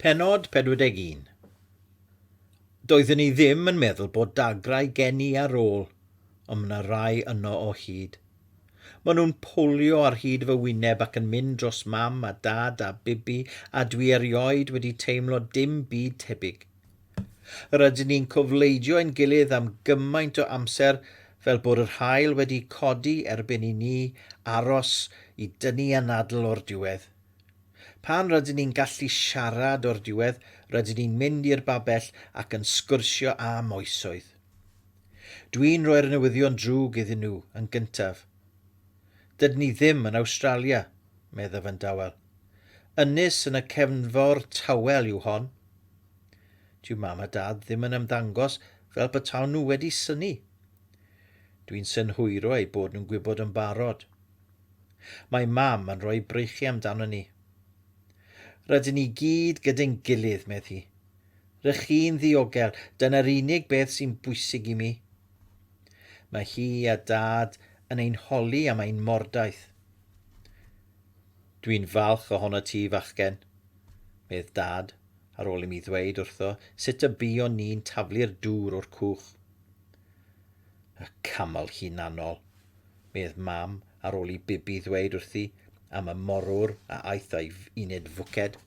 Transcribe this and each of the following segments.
Pennod 41. Doeddwn i ddim yn meddwl bod dagrau gen i ar ôl, ond mae 'na rai yno o hyd. Maen nhw'n powlio ar hyd fy wyneb ac yn mynd dros mam a dad a bibi a dwi erioed wedi teimlo dim byd tebyg. Rydyn ni'n cofleidio ein gilydd am gymaint o amser fel bod yr haul wedi codi erbyn i ni aros i dynnu anadl o'r diwedd. Pan rydyn ni'n gallu siarad o'r diwedd, rydyn ni'n mynd i'r babell ac yn sgwrsio am oesoedd. Dwi'n rhoi'r newyddion drwg iddyn nhw yn gyntaf. Dydyn ni ddim yn Awstralia, meddaf yn dawel. Ynys yn y cefnfor tawel yw hon. Dyw mam a dad ddim yn ymddangos fel petawn nhw wedi synnu. Dwi'n synhwyro eu bod nhw'n gwybod yn barod. Mae Mam yn rhoi breichiau amdanon ni. Rydyn ni gyd gyda'n gilydd, medd hi. R'ych chi'n ddiogel, dyna'r unig beth sy'n bwysig i mi. Mae hi a Dad yn ein holi am ein mordaith. Dwi'n falch ohono ti, fachgen, medd Dad, ar ôl i mi ddweud wrtho sut y buon ni'n taflu'r dŵr o'r cwch. Y camel hunanol! medd Mam ar ôl i Bibi ddweud wrthi am y morwr a aeth a'i uned fwced.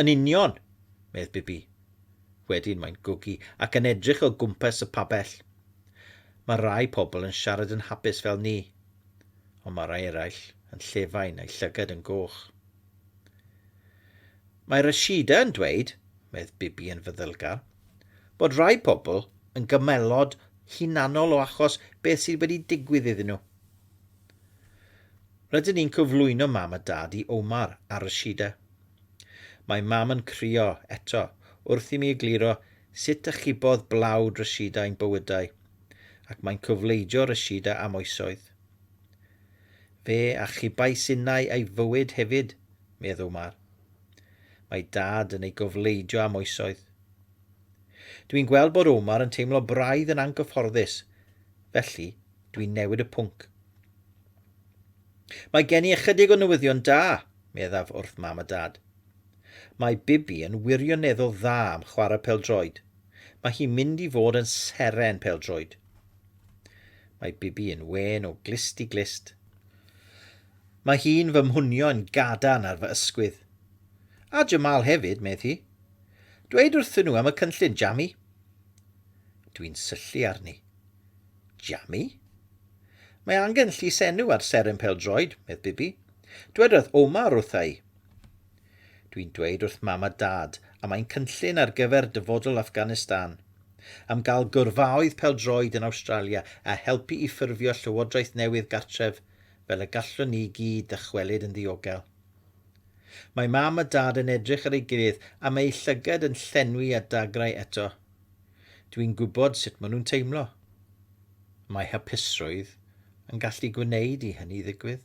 Yn union, medd Bibi. Wedyn mae'n gwgu ac yn edrych o gwmpas y pabell. Mae rai pobl yn siarad yn hapus fel ni, ond mae rai eraill yn llefain a'u llygad yn goch. Mae Rashida yn dweud, medd Bibi yn feddylgar, bod rhai pobl yn gymelod hunanol o achos beth sydd wedi digwydd iddyn nhw. Rydyn ni'n cyflwyno mam a dad i Omar a Rashida. Mae mam yn crio eto wrth i mi egluro sut achubodd blawd Rashida ein bywydau, ac mae'n cyfleidio Rashida am oesoedd. Fe achubais innau ei fywyd hefyd, meddw Mar. Mae Dad yn ei gofleidio am oesoedd. Dw i'n gweld bod Omar yn teimlo braidd yn anghyfforddus, felly dw i'n newid y pwnc. Mae gen i ychydig o newyddion da, meddaf wrth Mam a Dad. Mae Bibi yn wirioneddol dda am chwarae pêl-droed. Mae hi'n mynd i fod yn seren pêl-droed. Mae Bibi yn wên o glust i glust. Mae hi'n fy mhwnio yn gadarn ar fy ysgwydd. A Jamal hefyd, medd hi. Dweud wrthyn nhw am y cynllun, Jami. Dwi'n syllu arni. Jami? Mae angen llysenw ar seren pel-droed, medd Bibi. Dwedodd Omar wrtha i. Dwi'n dweud wrth Mam a Dad, a mae'n cynllun ar gyfer dyfodol Afghanistan, am gael gyrfaoedd pêl-droed yn Awstralia a helpu i ffurfio llywodraeth newydd gartref fel y gallwn ni i gyd ddychwelyd yn ddiogel. Mae Mam a Dad yn edrych ar ei gilydd a mae eu llygad yn llenwi â dagrau eto. Dwi'n gwybod sut maen nhw'n teimlo. Mae hapusrwydd yn gallu gwneud i hynny ddigwydd.